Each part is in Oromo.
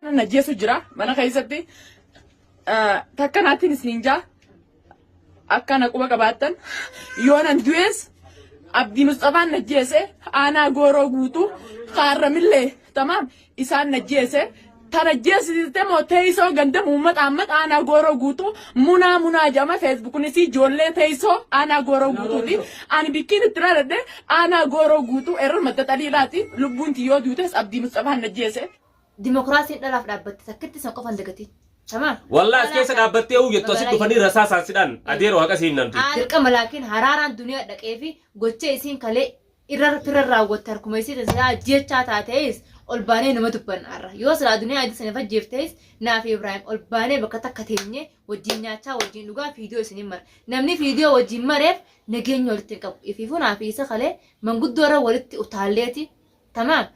Nan ajjeesu jira mana keessatti ah, takka naattiin isiniin jaa akka na quba qabaattan yoo nan du'es Abdii Musxafaan na ajjeese aanaa gooroo guutuu kaarramillee tamaam isaan na ajjeese tan ajjeesisiste moo teessoo ganda muummata ammat aanaa gooroo guutuu munaa munaa jedhama feesbuukunis ijoollee teessoo aanaa gooroo guutuuti ani bikkiin itti raadadhe aanaa gooroo guutuu erra madda xaliilaati lubbuun tiyyoo duutes Abdii Musxafaan na ajjeese. Dimokiraasiin dhalaaf dhaabbatte takkitti san qofan dagatiin. Tamaam. Wallah as keessa dhaabbattee uu jettu asitti dhufanii rasaa saansidhaan adeero haqa si himnan duuti. Dirqama laakiin haraaraan duniyaa dhaqee fi gocha isiin kalee irra firra raawwatte harkuma isiitiin silaa ajjeechaa taatees ol baanee numa dubbanna har'a. Yoo silaa duniyaa adii saniif ajjeeftees naa fi Ibraahim ol baanee bakka takka teenyee wajjin nyaachaa wajjin dhugaa fiidiyoo isiniin mara. Namni fiidiyoo wajjin mareef nageenya walitti hin qabu. Ifiifuu naa fi isa kalee manguddoo irra walitti utaalleeti Tamaam.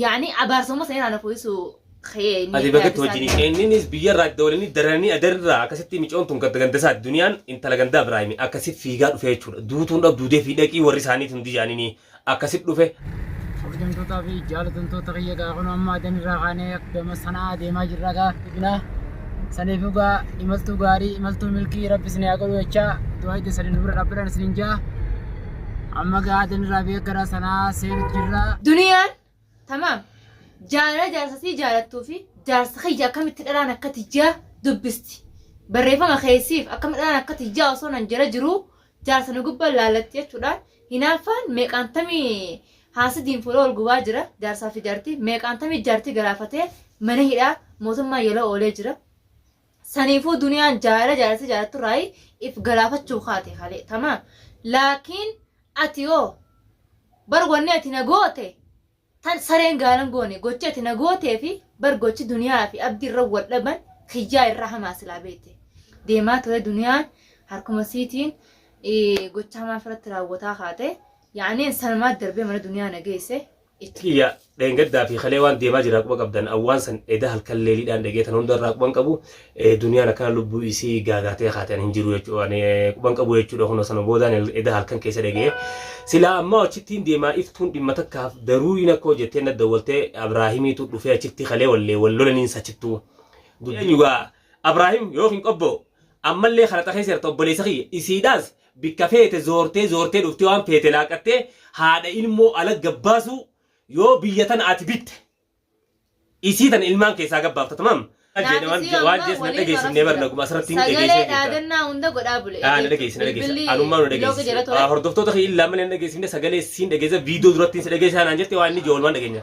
Yaani abaarsummaa sana irraa na fooyisu kee. Ati bakatti wajjin ishee inninis biyyarraa itti waliin daranii adarraa akkasitti micoon tun ganda gandasaati duniyaan intala gandaa biraayimi akkasi fiigaa dhufee jechuudha duutuun dhab duudee fi dhaqii warri isaanii tun dijaanini akkasi dhufe. Kabajamtootaa fi jaalatamtoota kiyya gaa kun amma adan irraa kaanee gama sanaa deemaa jirra gaa dhibina saniif gaa imaltuu gaarii imaltuu milkii rabbi isin haa godhu jechaa du'aa itti saniin dubra dhaabbiran isin jaa Amma gaatiin rafee gara sanaa seenu jirra. Duniyaan tamaam jaalala jaarsa sii jaalattuu fi jaarsa kiyya akkamitti dhalaan akka tiyyaa dubbisti. Barreeffama kee siif akkam dhalaan akka tiyyaa osoo nan jala jiruu jaarsa na gubbaan laallatti jechuudhaan hinaaffaan meeqaan tamii haasidiin fuula wal gubaa jira jaarsaa fi jaartii meeqaan tamii jaartii galaafatee mana hidhaa mootummaa yaloo oolee jira. Saniifuu duniyaan jaalala jaalatee jaalatturraayi if galaafachuu kaate halee tamaam. Laakiin ati hoo bar wanni ati na goote tan sareen gaalan goone gochi ati na gootee fi bar gochi duniyaa fi abdi irra wal dhaban kiyyaa irra hamaa silaa beete. Deemaa ture duniyaan harkuma siitiin eh, gocha hamaa ofirratti raawwataa kaate. Yaaniin sanumaa darbee mana duniyaa na geesse. Kiyya dheengaddaa fi kalee waan deemaa jiraa quba qabdan awwaan san eda halkan leeliidhaan dhegee tan hunda irraa quban qabu duniyaan akkana lubbuu isii gaagaatee kaate an hin jiru jechuudha ani quban qabu jechuudha kunoo sana boodaan eda halkan keessa dhegee silaa ammaa achittiin deemaa iftuun dhimma takkaaf daruuriin akkoo jettee na dawwaltee abraahimiitu dhufee achitti kalee wallee wal lolaniin sachittuu dubbiin yugaa abraahim yookiin qobboo ammallee kana xakeessi jirta obboleessa kiyya isiidhaas Bikka feete zoortee zoortee dhuftee waan feete laaqattee haadha ilmoo ala gabbaasuu yoo biyya tana ati bitte isii tana ilmaan keessaa gabbaafta tamam. Naafisii amma waliin marasisira. Sagalee dhaadannaa hunda godhaa bule bilbilli block jedha ture. Hordoftoota kee illaa malee hin dhageessifne sagalee siin dhageessa viidiyoo durattiin si dhageessa naan jette waan inni ijoo olmaan dhageenya.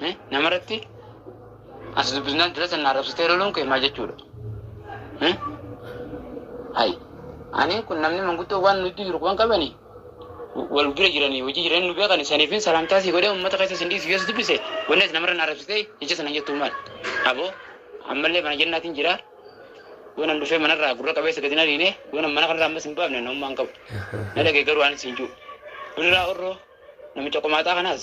Mee namarratti as dubbisnaan dura sana arrabsitee loluun kee maal jechuudha? Hmm? Hayi. Ani kun namni manguddoo waan nuti jiru waan qabani wal bira jiranii hojii jiranii nu beekani saniifin salaamtaa sii godhee uummata keessa sin dhiisu yesus dubbise wanni ati namarra na arrabsitee ija sana jettuu maal? Aboo ammallee mana jennaatiin jira waan dhufee manarraa gurra qabeessa gadi na dhiine waan mana kanarraa ammas hin baafne namummaan qabu. Na dhagee garuu anis hin jiru. Buniraa orroo namicha qomaaxaa kanaas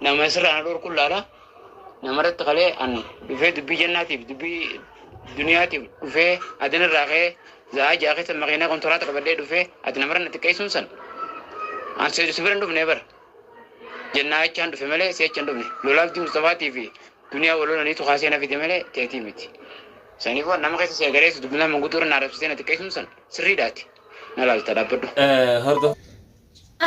Nama sirraa na dhorku laala. Namarratti kalee an dhufee dubbii jannaatiif dubbii duniyaatiif dhufee adin irraa kee za'aa ja'a keessa makiinaa kontiraata qabadhee dhufee ati namarra na xiqqeessuun san an seedu si bira hin dhufnee bara. Jennaa jechaan dhufe malee si jecha hin dhufne. Lolaaf diin Mustafaatii fi duniyaa wal lolaniitu kaasee na fide malee teetii miti. Saniif waan nama keessa si agareessu dubbinaa manguddoo irra na arabsitee na xiqqeessuun san sirriidhaati. Na laalta dhaabbadhu. Eh, hordof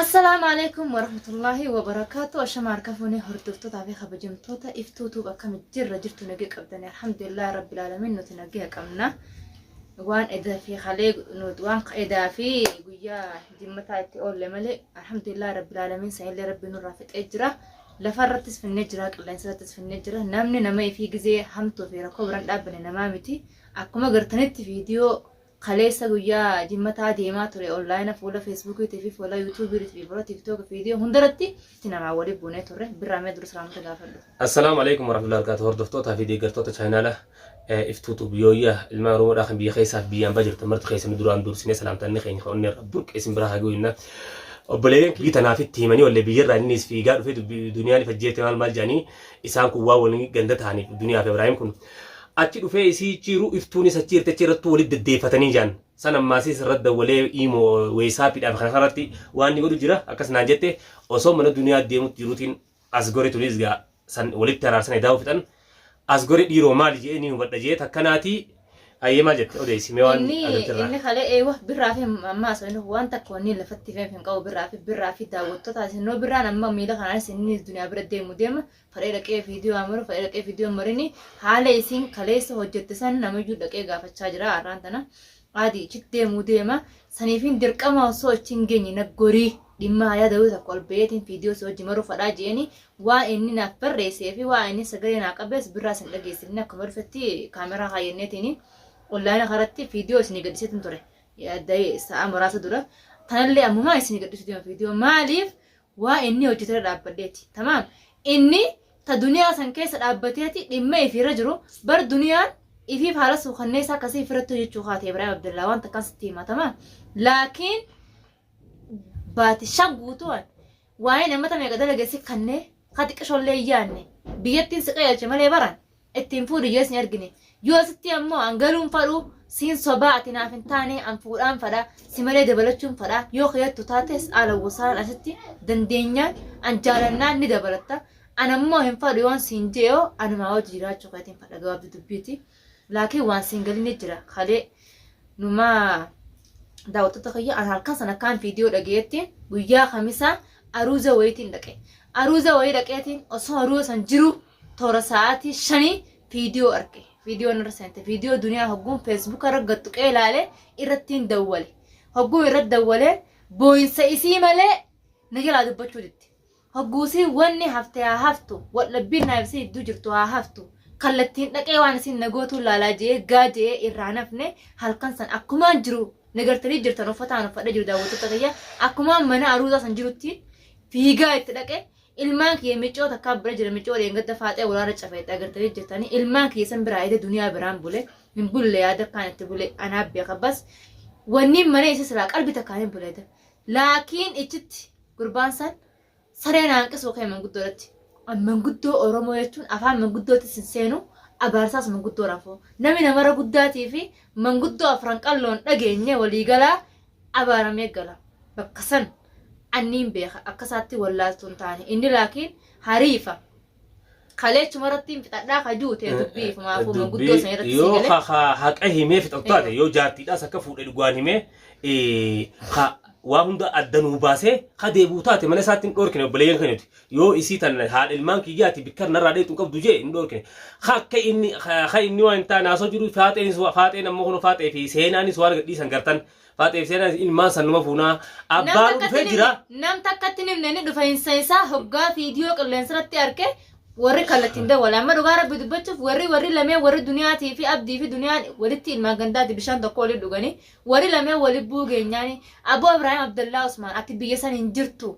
Assalaamu alaikum warahmatullahi wabarakaatu ashama harka fuunee hordoftoota fi kabajamtoota iftuu tuub akkami jirra jirtu nagee qabdani alhamdulillah rabbil alamin nuti nagee qabna waan edaa fi halee nuti waan edaa fi guyyaa jimmataa itti oolle malee alhamdulillah rabbil alamin sa'illee rabbi nurraa fixee jira lafa irrattis finnee jira qilleensa irrattis finnee jira namni nama ifii gizee hamtuu fi rakkoo biraan dhaabbane namaa miti akkuma gartanitti viidiyoo Kaleessa guyyaa jimmataa deemaa ture online fuula Facebook fi fuula YouTube fi fuula TikTok video hundaratti itti namaa wali buunee turre birraa mee dura salaamota gaafadhu. Assalaamu alaikum warahmatullahi wabarakatuh hordoftootaa fi deeggartoota chaayinaala iftuu tuub yooyyaa ilmaan oromoodhaa kan biyya keessaa fi biyya ambaa jirtan marti keessanuu duraan dursinee salaamtaanni keenya kan onneerra burqe isin biraa haa ga'u jenna. Obboleeyyan kiyyi tanaaf itti himanii ollee biyyarraa innis fiigaa dhufee duniyaa ni fajjeete maal maal jedhanii isaan kun waan walii ganda ta'aniif duniyaa fi Ibraahim kun Achi dhufee isii icciiru iftuunis achi jirti achi irrattuu walit deddeeffatanii jaan. San ammaasiis irra dawwalee iimo weesaapidhaaf kana kanarratti waan ni godhu jira akkas naan jette osoo mana duniyaa deemutti jiruutiin asgore tunis gaa san walitti araarsan edaa fixan asgore dhiiroo maali je'ee ni hubadha je'ee takka naatii ayyee maal jette odeessi mee waan inni agartirraa. inni kalee ee wah birraa fi amma asofni waan takka wanni lafatti feef hin qabu birraa fi birraa fi daawwattoota isin noo birraan amma miila kanaanis inni duniyaa bira deemu deema fadhee dhaqee viidiyoo haa maru fadhee dhaqee viidiyoo hin marini haala isiin kaleessa hojjette san namiyyuu dhaqee gaafachaa jira har'aan tana aadi ichitti deemuu deema saniifiin dirqama osoo achi hin geenye na gorii dhimma hayaa dawii tokko ol ba'eetiin viidiyoo si hojii maruu fadhaa jeeni waa inni naaf barreessee fi waa inni sagalee naa qabees birraa sin dhageessifne akkuma dhufetti kaameraa kaayyanneetiin onlaayina karatti viidiyoo isin gadhiseetiin ture yaadda sa'a muraasa dura tanallee ammumaa isin gadhisu deema viidiyoo maaliif Waa inni hojjatu irra dhaabbadheeti. Tamaam? Inni ta duniyaa san keessa dhaabbateeti dhimma ifii irra jiru bar duniyaan ifii faala suukanneessaa akkasii ifirratti hojjachuu kaate Ibraahim Abdallaa waan takkaan sitti hima tamaam? Laakiin baati shan guutuu an waa'ee namata meeqa dalage si kannee ka xiqqishoollee hin yaanne biyyattiin si qajeelche malee baran ittiin fuudhu yoo isin argine yoo sitti ammoo an galuun fadhu siin sobaa ati naaf hin taane an fuudhaan fadha si malee dabalachuun fadha yoo keeyattu taates haala gosaan asitti dandeenyaan an jaalannaan ni dabalatta an ammoo hin fadhu yoon siin je'oo anumaa wajji jiraachuu keetiin fadha gabaabdu dubbiiti laakiin waan siin galin ni jira kalee numaa daawwattoota kiyya an halkan sana akkaan viidiyoo dhageettiin guyyaa kamisaa aruuza wayiitiin dhaqe aruuza wayii dhaqeetiin osoo aruuza san jiruu toora sa'aatii shanii viidiyoo arge viidiyoon irra seente viidiyoo duniyaa hogguun feesbuuka irra gattuqee ilaale irrattiin dawwale hogguun irra dawwale booyinsa isii malee na jalaa dubbachuu ditti hogguusii wanni hafte haa haftu waldhabbiin naaf isii idduu jirtu haa haftu kallattiin dhaqee waan isin nagootuu laalaa je'ee gaa je'ee irraa nafne halkan san akkumaan jiru nagartanii jirtan uffataan uffadha jiru daawwattoota kiyya akkumaan mana aruuzaa san jirutti fiigaa itti dhaqe Ilmaan kiyya miccoo takkaa bira jira miccoo dheengadda faaxee waraana cafe itti agartanii jirtanii ilmaan kiyya san biraa eede duniyaa biraan bule hin bulle yaada kaan itti bule anaa beeka bas wanniin manee isa siraa qalbi takkaan hin buleeda laakiin ichitti gurbaan san saree naanqisuu kee manguddoo irratti manguddoo oromoo jechuun afaan manguddootti sin seenu abaarsaas manguddoo rafuu namni namara guddaatii fi manguddoo afran qalloon dhageenye waliigalaa abaaramee gala bakka san anniin beeka akka isaatti wallaaltuu hin taane inni laakiin hariifa kaleechuma irratti hin fixadhaa ka jiru ta'e dubbii ifumaafuu manguddoo san irratti yoo sii galee ka haqa himee fixatu taate Eeyyoo. yoo jaartiidhaas akka fuudhe dhugaan himee eh, ka waa hunda adda nuu baasee ka deebi'u taate mana isaatti hin dhoorkine obboleeyyan keenyuti Yoo isii tan haadha ilmaan kiyyaati bikkar narraa dheetu hin qabdu jee hin dhoorkine. Ka akka inni ka inni waan hin taane haasoo jiru faaxeenis waa- faaxeen ammoo kun faaxee fi seenaanis waan gadhiisan gartan. Faaxee fi seenaanis ilmaan san numa fuunaa Nam abbaan takkatti dhufee hin jira. himne, nam takkatti hin himne inni dhufa hin seensaa hoggaa viidiyoo qilleensa irratti arge warri kallattiin dawwala. Amma dhugaa rabbi dubbachuuf warri warri lameen warri duniyaatii fi abdii fi duniyaan walitti ilmaan gandaati bishaan tokko waliin dhuganii warri lameen wali buugeenyaani Aboo Ibraahim Abdallaa Usmaan ati biyya san hin jirtu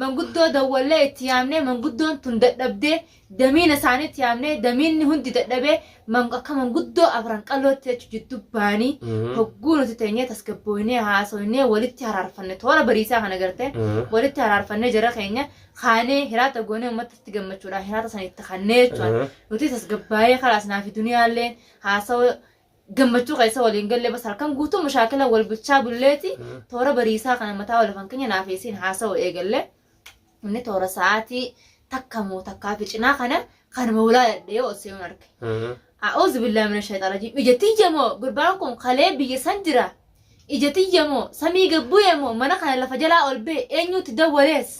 Manguddoo dawwallee itti yaamnee manguddoon tun dadhabdee damiina isaaniitti yaamnee damiinni hundi dadhabee akka manguddoo afran qalootti jechu jiddu baani hogguu nuti teenyee tasgabbooynee haasoynee walitti haraarfanne toora bariisaa kana garte walitti haraarfannee jara keenya kaanee hiraata goonee ummattatti gammachuudhaan hiraata sanitti kannee jechuun nuti tasgabbaayee kalaas naafi duniyaalleen haasawa gammachuu keessa waliin gallee bas halkan guutuu mashaakila wal bulchaa bulleeti toora bariisaa kana mataa wal afan keenya naafeessiin haasa'u eegalle inni toora sa'aatii takka moo takkaa fi cinaa kana kan moolaa dhadhee ol seenuun arge. A'uuzu billaa mina shayxaan rajiim ija tiyya moo gurbaan kun kalee biyya san jira ija tiyya moo samii gabbu'e moo mana kana lafa jalaa ol bee eenyuutti dawwalees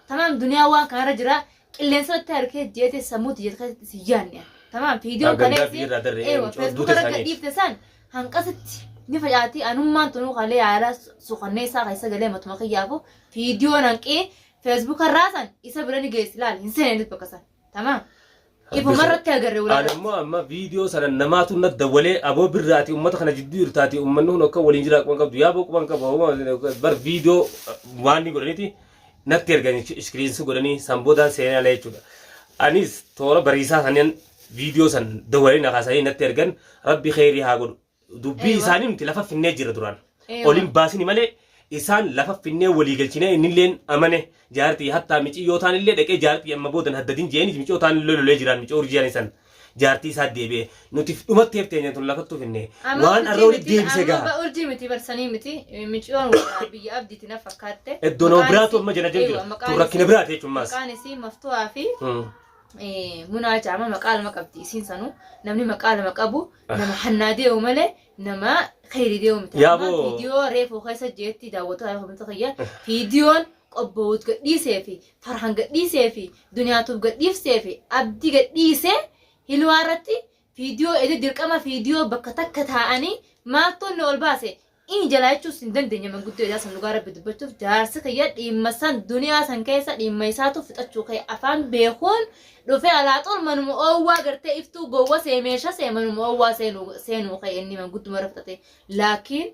tamaam duniyaa waan kanarra jira qilleensootti harkee jeete sammuutti jeete keessatti si yaanne tamaam fiidiyoo Yaa gandaa kaleessi biirraa darree eewa eenyu feesbuuka duuta irra isaanii. gadhiifte san hanqasitti ni facaatii anummaan tunuu kalee yaalaa sukanneessaa keessa galee matuma kiyyaafu fiidiyoo hanqii feesbuuka irraa san isa bira ni geessi laal hin seenenis bakka san tamaam ifuma irratti agarre Ani walaala immoo amma viidiyoo sana namaatu na dawwalee aboo birraati uummata kana jidduu irtaati uummanni kun akka waliin jiraa quban qabdu yaa boo quban qaba bar viidiyoo waan ni godhaniti natti ergan jechuudha iskiriinsi godhanii san boodaan seenaa ala jechuudha anis toora bariisaa sanin viidiyoo san dawwalee na kaasanii natti ergan rabbi kheyrii haa godhu dubbii Eeywa. isaanii nuti lafa finnee jirra duraan Eeywa. oliin baasini malee isaan lafa finnee walii galchinee innilleen amane jaartii hattaa micii yoo taan illee dhaqee jaartii amma boodan haddadin jeeni micoo taan illee lolee jiraan micoo urjiyaan isan jaartii isaa deebi'e nutif dhumatteef teenya tun lafattuu finne Amma waan urjii arra olii miti, deebise amma gaha. ba- urjii miti barsanii miti miciyoon warraa biyya abdiiti na fakkaatte Iddoo nama Maqaan biraatu isii- amma jala jala Eeywa, jira. maqaan Tun rakkina isii- biraati jechuun maas. maqaan isii maftuhaa fi Hmm. eh, munaa jaama maqaa lama qabdi isiin sanuu namni maqaa lama qabu nama hannaa deemu malee nama kheyri deemu miti Yaa Amma boo. viidiyoo reefuu keessa jeetti daawwataa yoo hubamtu kiyya viidiyoon Qobbowuut gad dhiiseefi Farhan gad dhiiseefi Duniyaa Tube gad dhiifteefi Abdi gad dhiisee Hilwaa irratti Viidiyoo edit dirqama viidiyoo bakka takka taa'anii maaltu nu ol baase Ini jalaa jechuus hin dandeenye manguddoo edaa san dhugaa rabbi dubbachuuf jaarsi kiyya dhiimma san duniyaa san keessa dhiimma isaatu fixachuu ka'e afaan beekuun dhufee alaaxuul manuma oowwaa gartee iftuu gowwa see meesha see manuma oowwaa seenuu ka'e inni mangudduma irra fixate laakiin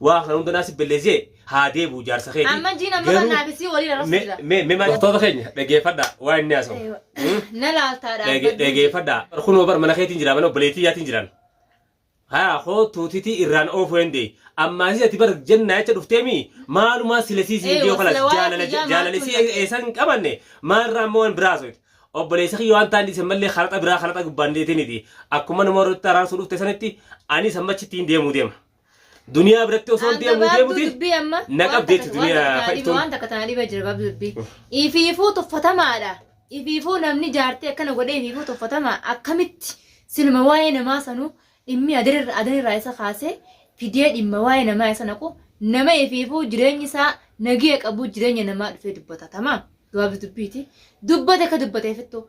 Waa kana hunda naasif belleesee haa deebi'u jaarsa keeti. Amma jiin amma kan naaf isii waliin arrabsu jira. Mee mee doktoota keenya dhageeffadhaa waa inni haasa'u. Na laaltaa dhaabbadhu. Dhageeffadhaa. Kunoo bar mana keetiin jira mana obboleettii yaatiin jiraan. Haa koo tuutitii irraan oofuu danda'e. Ammaasii ati bar jennaa jecha dhufteemi maalumaa silesii siin dhiyoo kanas jaalala jaalala isii eessan hin qabanne maalirraa amma waan biraa haasofte. Obboleessa kiyya waan ta'an dhiisan mallee karaxa biraa karaxa gubbaan deetiniti akkuma nama warra itti araarsuu dhufte sanitti anis amma achitti hin deemuu deema. Duniyaa biratti osoo hin deemuu deemuti. dubbii amma na waan qabdi takka- jechuudha, waan duniyaa takka naa dhibe- fayyistuun. waan takka tana dhiba jira gabaabduu dubbii ifiifuu tuffatamaadha ifiifuu namni jaartee akkana godhee ifiifuu tuffatamaa akkamitti siluma waa'ee namaa sanuu dhimmi adirra- adanirraa isa kaasee fidee dhimma waa'ee namaa isa naqu nama ifiifuu jireenyi isaa nagee qabu jireenya namaa dhufee dubbata tamaa gabaabduu dubbiiti dubbate akka dubbateefittu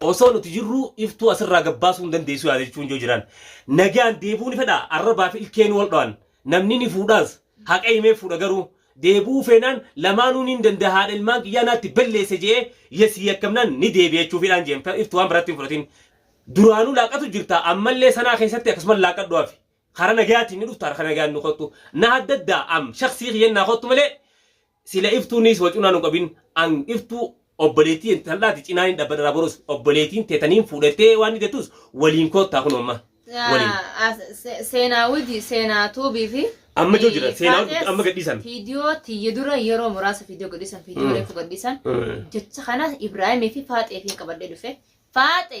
Osoo nuti jirruu iftuu asirraa gad baasuu hin dandeessu yaada jechuun yoo jiraan nagaan deebi'uu ni fedha arrabaa fi ilkeenuu wal dho'an namni ni fuudhaas haqa himee fuudha garuu deebi'uu feenaan lamaanuu niin danda'a haadha ilmaan kiyyaa naatti balleesse je'ee yasii yakkamnaan ni deebi'a jechuufi dhaan je'en iftuu waan biratti hin fudhatin duraanuu laaqatu jirta ammallee sanaa keessatti akkasuman laaqadhu hafi kara nagayaatiin ni dhufta kara nagayaan ni kottu na haddaddaa am shaksii kiyyan naa kottu malee Sila iftuu niis wa cunaa nu qabin an iftuu obboleettii intallaati cinaa ni dhabbadha raborus obboleetiin te taniin fuudhattee waan ni detuus waliin koottaa kun amma waliin. Seenaa Widi Seenaa Tuubii fi Amma jiru jira seenaa wajjin Faatees amma gadhiisan. viidiyoo tiyya dura yeroo muraasa viidiyoo gadhiisan viidiyoo reefu gadhiisan jecha kana Ibraahimii fi Faaxeefiin qabadhee dhufe Faaxe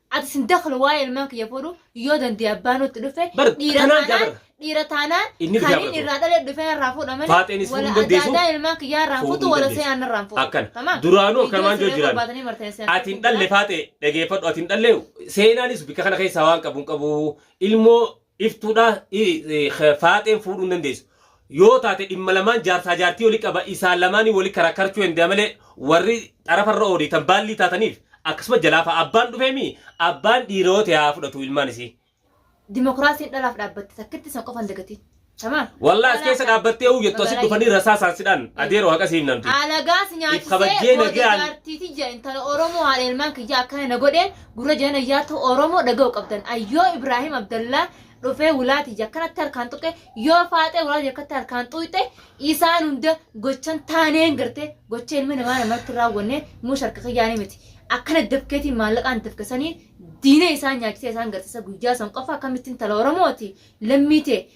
Ati sin dakhalu waa'ee ilmaan kiyya fuudhu yoo dandee abbaanuu itti dhufe Bar- dhiira kanaan taanaan jabara. dhiira taanaan Inni kan bitaa inni irraa dhalee dhufe narraa fuudha malee Faaxeenis fuudhuu wala dandeessu, adda addaa ilmaan kiyyaa irraa fuudhuu fuutu wala dandeessu. seenaan irraa fuudha. Akkana. Tamam? Duraanuu Viidiyoo akkanumaan siree jijjiiran. barbaadanii marteessee Ati hin dhalle faaxee dhageeffadhu ati hin dhalle seenaanis bika kana keessaa waan qabu hin qabu ilmoo Iftuudhaa faaxeen fuudhuu hin dandeessu. Yoo taate dhimma lamaan jaarsaa jaartii wali qaba isaan lamaanii wali karakkarchuu endaa malee warri xarafa irra oodiitan baallii taataniif akkasuma jalaafa abbaan dhufee mii abbaan dhiira yoo ta'e haa fudhatu ilmaan isii. Dimokiraasiin dhalaaf dhaabbatte takkitti san qofaan dagatiin. Tamaam. Wallah as keessa dhaabbattee uu jettu asit dhufanii rasaa isaan sidhaan adeeroo haqa siif namti. Alagaas nyaachisee booda jaartiiti jira intala Oromoo haadha ilmaan kiyyaa akkana na godheen Gurra jeen ayyaatu oromo dhaga'u qabdan an yoo ibrahim abdallaa dhufee wulaa tiyya akkanatti harkaan tuqe yoo faaxee wulaa tiyya akkatti harkaan xuuxxe isaan hunda gochan taaneen garte gocha ilmi namaa namatti raawwanne mush harka kiyyaanii miti akkana dafkeetiin maallaqaan dafkesanii diina isaan nyaachisee isaan garsiisa guyyaa san qofa akkamittiin tala oromooti lammii tee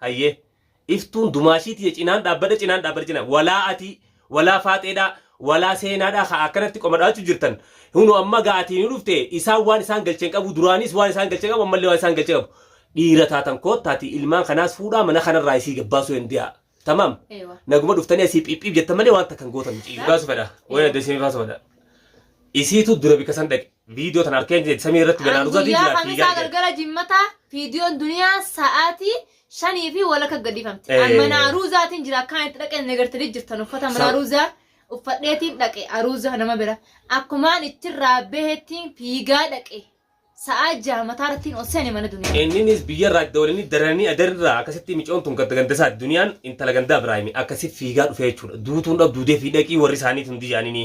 Hayyee. Iftuun dumaashii tiyya cinaan dhaabbadha cinaan dhaabbadha cinaan walaa atii walaa faaxeedhaa walaa seenaadhaa kaa akkanatti qoma dhahachuu jirtan hunu amma gaa atii nu dhufte isaan waan isaan galche hin qabuu duraaniis waan isaan galche qabu ammallee waan isaan galche qabu dhiira taatan koottaatii ilmaan kanaas fuudhaa mana kanarraa isii gabbaasuu hendiyaa tamaam Ewa. naguma dhuftanii asii phiphiip jettan malee waan takka hin gootan miciyyoo. Dhugaa sufadha. Wayna Ewa. desinifaa sufadha. Isiitu dura bika san dhaqe. Viidiyoo tana harkeen kee samii irratti An ganaaluudhaatiin guyyaa jiraatti kamisaa dhiigaan kee. galgala jimmataa viidiyoon duniyaa sa'aatii shanii fi walakka gadhiifamte. An Eh. mana aruuzaatiin jira akkaan itti dhaqeen na gartanii jirtan uffata mana Sa- aruuzaa uffadheetiin dhaqe aruuzaa nama bira. Akkumaan ittirraa bahettiin fiigaa dhaqe. Sa'aa jaha mataarrattiin ol seene mana duniyaa. Inninis biyyarraa itti dabalanii daranii adarraa akkasitti micoon tun gadda ganda isaati duniyaan intala gandaa Ibraahimi akkasi fiigaa dhufee jechuudha. Duutuun dhab duudee fi dhaqii warri isaaniit hundi jaanini